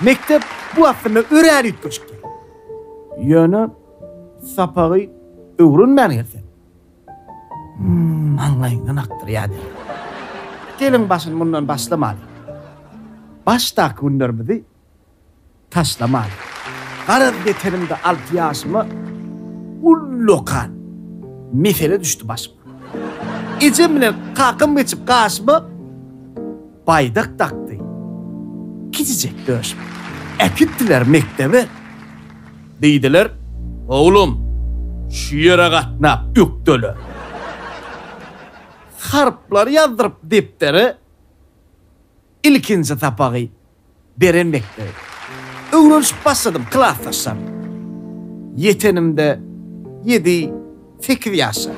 Mekdep bu aslynda örän üýtgeşikdi. Ýöne sapagy öwrenmän gelsek, maňlaýyndan akdyrýardy. Geliň başyny mundan başlamalyň. Başdaky günlerimizi taşlamalyň. Garaz ýetenimde alty ýaşyma ullakan mesele düşdi başyma. Ejem bilen kakam geçip gaşyma. baýdak dakdy. Kiçijek döş. Äkitdiler mekdebe. Diýdiler, Oglum, şu ýere gatnap ökdele. Harplary ýazdyryp depdere ilkinji sapagy. beren mekdebi. Öwrenişip başladym klasdaşlarym. Ýetenimde ýedi, sekiz ýaşa.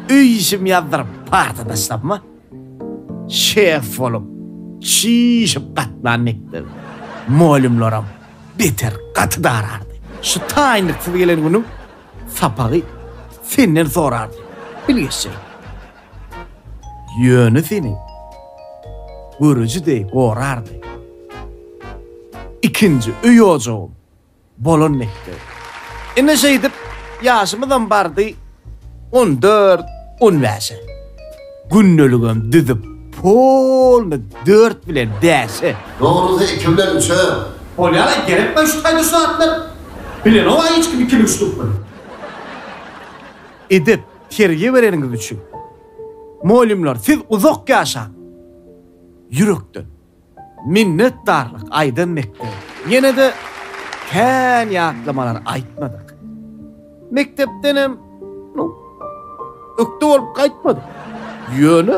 Öý işim ýazdyryp partadaşlarma şef bolup çişip gatnan mekdebi. Molümlaram beter gaty darardy. Şu taýynlyksyz gelen günüň sapagy senden sorardy. Bil geçjek. Ýöne seni görüji deý gorardy. Ikinji öý ojagym bolan mekdep. Ine şeýdip ýaşymyzam bardy on dört, on bäşe. Gündeligem düzüp polny dört bilen bäşe. Dogrusy iki bilen üçe. Bolýar-a, gerekmi şu taýda şu zatlar? Bilenok-a hiç kim ikini üçlükmi? Edep, Terbiýe bereniňiz üçin mugallymlar siz uzak ýaşaň! Ýürekden minnetdarlyk aýdan mekdebe ýene-de kän ýatlamalar aýtmadyk. Mekdepdenem ökde bolup gaýtmadyk. Ýöne.